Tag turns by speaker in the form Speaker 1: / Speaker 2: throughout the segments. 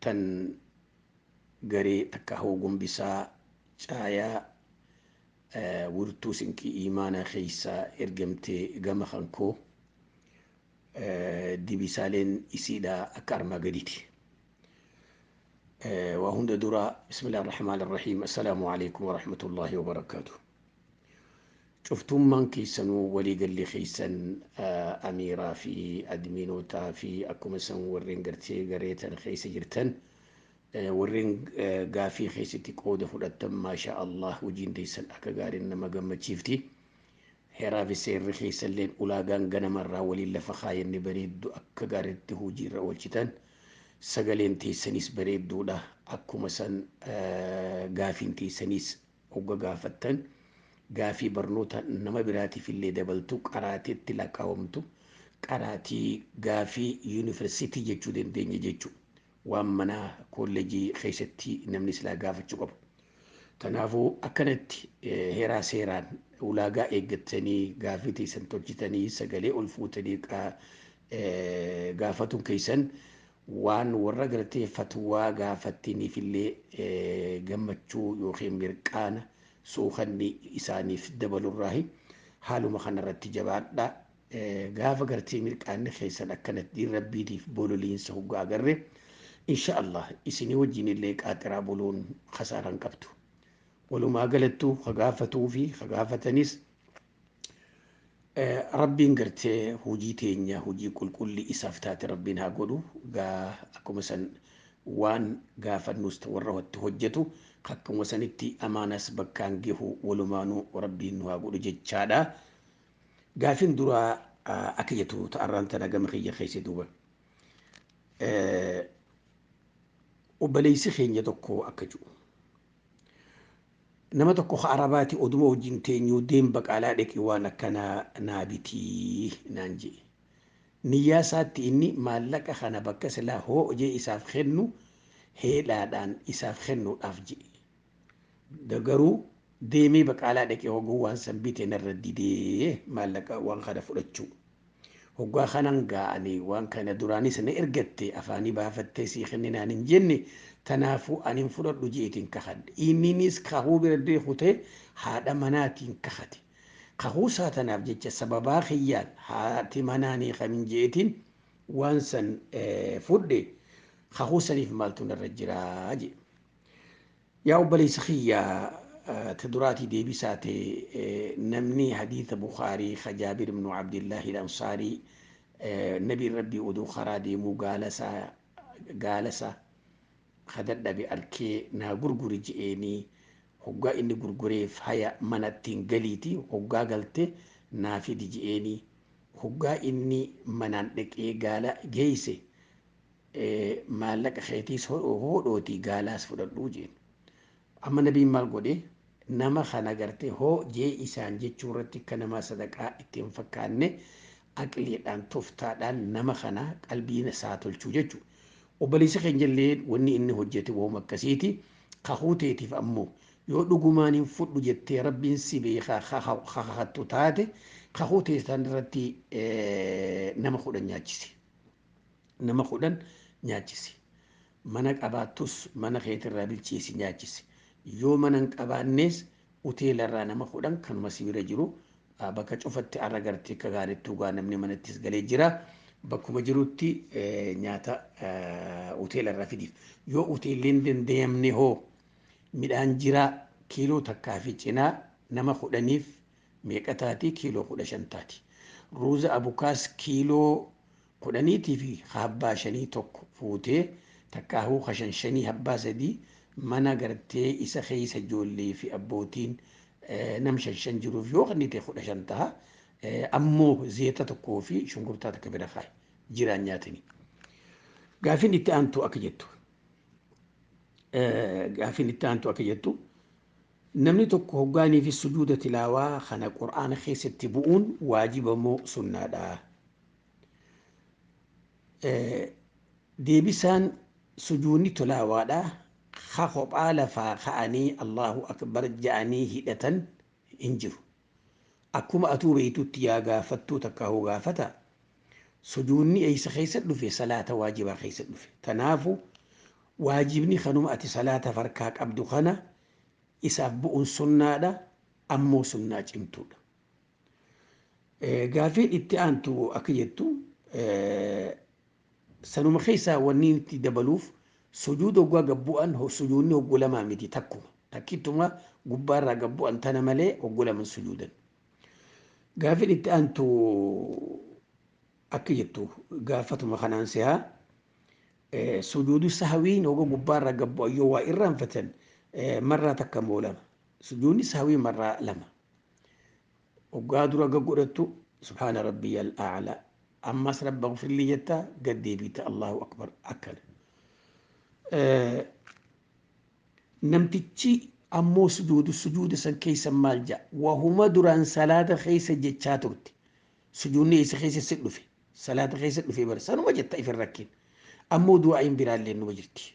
Speaker 1: tan garee takka hoo gombisaa caayaa wirtuu sinqii iimaanaa keeysaa ergamtee gama kan koo dibisaaleen isiidha akka armaa gadiiti. waa hunda dura bismillah ar-rahmaan ar-rahiim assalaamu alaikum warahmatullaahi wabarakaatu. Cuftuummaan keessanuu waliigalli keessan Amiiraa fi Admiinootaa fi akkuma san warreen gartee garee tana keessa jirtan warreen gaafii keessatti qooda fudhattan maashaa Allah hojiin teessan akka gaariin nama gammachiifti. Heeraa fi seerri keessalleen ulaagaan ganamarraa waliin lafa kaayanne bareeddu akka gaariitti hojiirra oolchitan sagaleen teessanis bareedduudha akkuma san gaafiin teessanis Hogga gaafattan gaafii barnoota nama biraatiif illee dabaltu qaraateetti lakkaawamtu qaraatii gaafii yuniversitii jechuu dandeenya jechu waan manaa koollejii keessatti namni silaa gaafachuu qabu. Tanaafuu akkanatti heeraa seeraan ulaagaa eeggattanii gaafii teessan tolchitanii sagalee ol fuutanii gaafatuun keessan Waan warra gartee fatwaa gaafattiniifillee gammachuu yookiin mirqaana, suukanni isaaniif dabalurraahi. Haaluma kanarratti jabaadhaa. Gaafa gartee mirqaanni keessan akkanatti diin Rabbiitiif bololiinsa hoggaa agarre, insha Allah isinii wajjinillee qaaxiraa buluun kasaaraa hin qabdu. Walumaa galattuu ka gaafatuufi ka gaafatanis Rabbiin gartee hojii teenya hojii qulqulli isaaf taate rabbiin haa godhu gaa akkuma san waan gaafannus warra hotti hojjetu akkuma sanitti amaanas bakkaan gehu walumaanuu rabbiin nu haa godhu jechaadha. Gaafin duraa akka jettu ta'arraan tana gama kiyya keessa duuba. Obboleessi keenya tokko akka jiru. Nama tokko ka Arabaati oduma wajjin teenyuu deem baqaalaa dhaqii waan akkanaa naa bitii naan je'e. Niyyaa isaatti inni maallaqa kana bakka silaa hoo'jee isaaf kennu heelaadhaan isaaf kennuudhaaf je'e. Garuu deemee baqaalaa dhaqee hoguu waan san bite narra didee maallaqa waan kana fudhachuu. Hoggaa kanan gaa ani waan kana duraanis na ergatte afaanii baafattee sii kenne naan hin jenne tanaafuu ani hin fudhadhu je'eetiin kakhadhe. Inninis kakhuu bira dee kutee haadha manaatiin kakhate. Kakhuu isaa tanaaf jecha sababaa kiyyaan haati manaa hin hiikamin je'eetiin waan san fudhe kakhuu saniif maaltu narra jiraa? je'e. Yaa obboleessa kiyya ta duraatii deebisaa te namni hadiitha bukhaarii ka jaabir ibnu abdillahi ilansaarii nabiin rabbii oduu karaa deemuu gaalasa gaalasa ka dadhabe arkee naa gurguri je'eenii hoggaa inni gurgureef haya mana ittiin galiiti hoggaa galte naa fidi je'eenii hoggaa inni manaan dhaqee gaala geeyse maallaqa keetiis hoodhootii gaalaas fudhadhu jeen. Amma nabiin maal godhe nama kana gartee hoo jee isaan jechuu irratti akka namaa sadaqaa itti hin fakkaanne aqliidhaan toftaadhaan nama kana qalbiin isaa tolchuu jechu. Obboleessi keenya illee wanni inni hojjete wooma akkasiiti kakuu teetiif ammoo yoo dhugumaan hin fudhu jettee rabbiin si beekaa kakattu taate kakuu teessan irratti nama kudhan nyaachisi. Nama kudhan nyaachisi. Mana qabaattus mana keetirraa bilcheessi nyaachisi. Yoo mana hin qabaannees uteelarraa nama kudhan kanuma si bira jiru bakka cufatti arra gartee akka gaariitti dhugaa namni manattis galee jira. Bakkuma jirutti nyaata uteelarraa fidiif. Yoo uteellee hin dandayamne hoo midhaan jiraa kiiloo takkaa fi cinaa nama kudhaniif meeqa taati kiiloo kudha shan taati ruuza abukaas kiiloo kudhaniitii fi habbaa shanii tokko fuutee takkaahuu kashan shanii habbaa sadii mana gartee isa keessa ijoollee fi abbootiin nam shan shan jiruuf yoo kennite kudha shan taha ammoo zeeta tokkoo fi shunkurtaa takka bira kaa'i jiraan nyaatanii. Gaafin itti aantu akka jettu gaafin itti aantu akka jettu Namni tokko hoggaa inni fi sujuuda tilaawaa kana qur'aana keessatti bu'uun waajiba moo sunnaadha? Deebisaan sujuudni tilaawaadha ka kophaa lafaa ka'anii Allaahu Akbar ja'anii hidhatan hin jiru. Akkuma atuu beeytutti yaa gaafattuu takkaahuu gaafata, sujuudni eeysa keeysatti dhufe salaata waajibaa keeysatti dhufe. Tanaafu waajibni kanuma ati salaataf harkaa qabdu kana isaaf bu'uun sunnaadha, ammoo sunnaa cimtuudha. Gaafiin itti aantu akka jettu, Sanuma keessaa wanniin itti dabaluuf, sujuuda hoggaa gad bu'an sujuudni hoggu lamaa miti takkuma, takkittuma gubbaa irraa gad bu'an tana malee hoggu lama hin sujuudan. Gaaffiin itti aantu akka jettu gaaffatuma kanaan seha sujuudu sahwiin hogga gubbaa irraa gad bu'an yoo waa irraanfatan marraa takka moo lama? Sujuudni sahwii marraa lama. Hoggaa dura gag godhattu subhaana rabbiyal a'laa ammas rabbaghfirlii jetta gad deebiita Allahu akbar akkana. Namtichi ammoo sujuudu sujuuda san keessa maal ja'a wahuma duraan salaata keessa jechaa turte sujuunni eessa keessa si dhufe salaata keessa dhufe bara sanuma jetta ifin rakkin ammoo du'aa'iin biraallee numa jirti.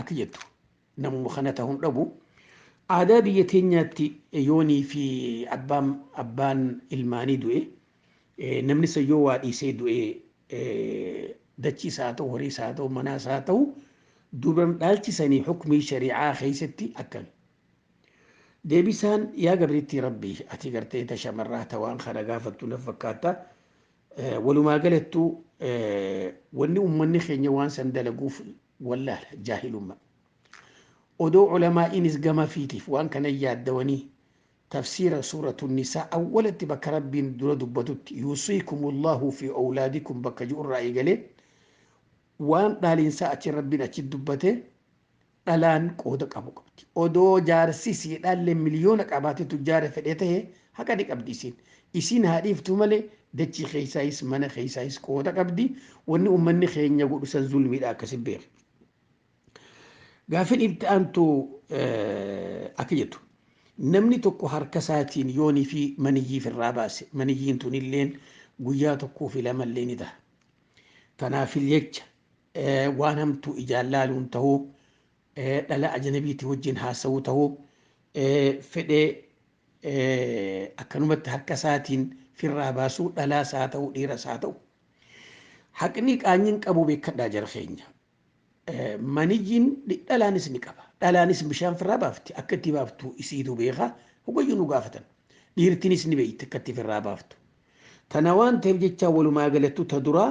Speaker 1: Akki jettu namuma kana ta'uu hin dhabu. Aadaa biyya teenyaatti yoonii fi abbaan abbaan ilmaanii du'e namni san yoo waa dhiisee du'e dachii isaa haa ta'u horii isaa haa ta'u manaa isaa haa ta'u duuban dhaalchisanii hukmii shari'aa keessatti akkami. Deebisaan yaa gabriitti rabbii ati gartee ta shamarraa ta waan kana gaafattu naf fakkaata Walumaa galattu wanni ummanni keenya waan san dalaguuf wallaala jaahilumma. Odoo ulamaa'iinis gama fiitiif waan kana yaaddawanii tafsiira suuratu nisaa awwalatti bakka rabbiin dura dubbatutti yuusiikumullaahu fi awlaadikum bakka ji'urraa eegalee waan dhaalinsaa achi rabbiin achi dubbate dhalaan qooda qabu qabdi. Odoo jaarsi isii dhaallee miliyoona qabaatee tujjaara fedhee tahe haqa ni qabdi isiin. Isiin haa dhiiftuu malee dachii keessaayis mana keessaayis qooda qabdi. Wanni ummanni keenya godhu san zulmiidha akkasi beeki. Gaafin itti aantu akka jettu namni tokko harka isaatiin yoonii fi maniyyii firraa baase maniyyiin tunilleen guyyaa tokkoo fi lamallee ni taha. Tanaaf jecha waan hamtuu ijaan laaluun tahuu, dhala ajanabiitii wajjin haasawuu tahuu, fedhee akkanumatti harka isaatiin firraa baasuu dhalaas haa ta'u dhiiras haa ta'u. Haqni qaanyiin qabu beekadhaa jara keenya. Maniyyiin dhalaanis ni qaba. Dhalaanis bishaan firraa baafti akka itti baaftu isiitu beeka hogayyu nu gaafatan. Dhiirtinis ni beekti akka itti firraa baaftu. Tana waan ta'eef jecha walumaa galattu ta duraa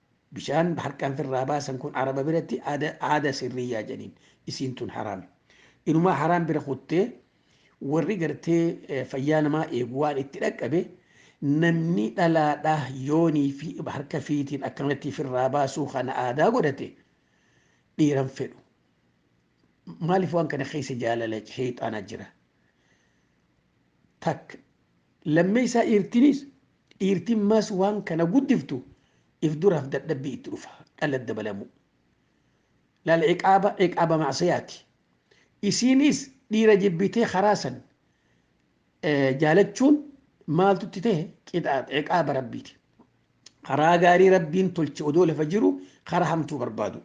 Speaker 1: Bishaan harkaan firraa baasan kun araba biratti aada aada sirriyyaa jedhaniin. Isiin tun haraami. Inumaa haraam bira kuttee warri gartee eh, fayyaa namaa eegu waan itti dhaqqabe namni dhalaadhaa yoonii fi harka fiitiin akkanatti firraa baasuu kana aadaa godhate dhiiran fedhu. Maaliif waan kana keessa jaalala sheexaanaa jira. Takka Lammeeysaa dhiirtinis dhiirtiin maas waan kana guddiftu if duraaf dadhabbii itti dhufa dhala dabalamuu laal ciqaaba ciqaaba macsiyaati isiinis dhiira jibbitee karaa san jaalachuun maaltu itti tahe qixaaxa ciqaaba rabbiiti karaa gaarii rabbiin tolche odoo lafa jiru karaa hamtuu barbaadu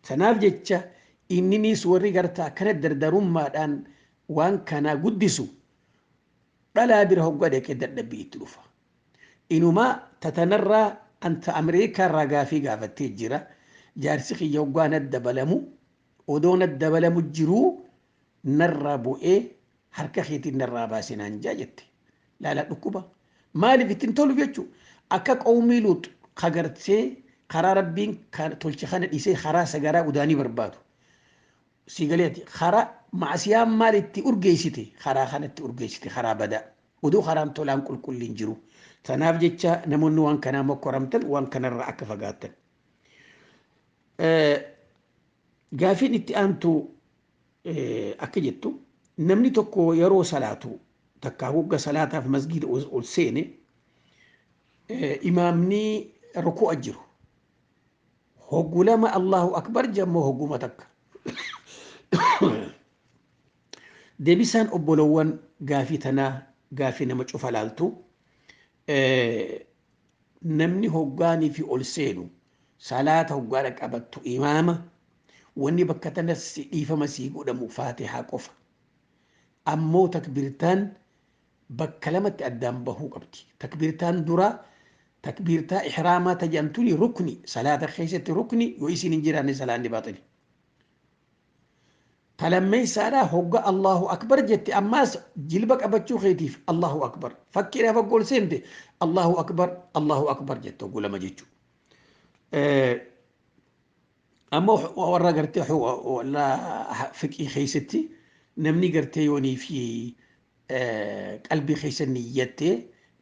Speaker 1: tanaaf jecha inniniis warri garta akkana dardarummaadhaan waan kanaa guddisu Dhalaa bira hoggaa dhaqe dadhabbii itti dhufa. Inumaa ta tanarraa an ta Amerikaarraa gaafii gaafattee jira. Jaarsi kiyya hoggaa natti dabalamu odoo natti dabalamu jiruu narraa bu'ee harka keetiin narraa baasi naan ja'a jette. Laalaa dhukkuba. Maaliif itti hin tolu jechuu. Akka qawmii Luux ka gartee karaa Rabbiin ka tolche kana dhiisee karaa sagaraa udaanii barbaadu. Sii galee ati karaa ma'asiyaan maal itti urgeessite karaa kana itti urgeessite karaa badaa oduu karaan tolaan qulqulliin jiru tanaaf jecha namoonni waan kanaa mokkoramtan waan kanarraa akka fagaattan. Gaafiin itti aantu akka jettu namni tokko yeroo salaatu takkaa hogga salaataaf masgiida ol seene imaamni ruku'a jiru Hoggu lama Allahu Akbar jammoo hogguma takka. Debisaan obbolowwan gaafii tanaa gaafii nama cufa laaltu namni hoggaanii fi ol seenu salaata hoggaa dhaqqabattu imaama wanni bakka tanas dhiifama sii godhamu faatihaa qofa. Ammoo takbirtaan bakka lamatti addaan bahuu qabdi. Takbiirtaan duraa takbiirtaa ihraamaa ta jedhan tuni rukni salaata keessatti rukni yoo isiin hin jiraanne salaanni baaxili. Ta lammeessaadhaa hogga Allahu akbar jette ammaas jilba qabachuu keetiif Allahu akbar. Fakkiidhaaf hogga ol seente Allahu akbar Allahu akbar jette hogguu lama jechuu. Amma warra gartee warra fiqii keessatti namni gartee yoonii fi qalbii keessa niyyattee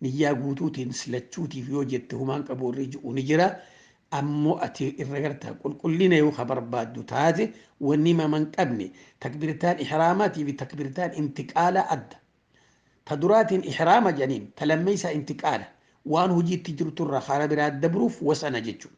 Speaker 1: niyyaa guutuutiin silachuutiif yoo jette humaan qabu irra ji'u ni jira. Ammoo ati irra gartaa qulqullina yoo ka barbaaddu taate wanni mama hin qabne takbirtaan ihraamaatii fi takbirtaan intiqaalaa adda. Ta duraatiin ihraama jedhaniin, ta lammeeysaa intiqaala, waan hujiitti jirturraa hara biraa dabruuf wasana jechuudha.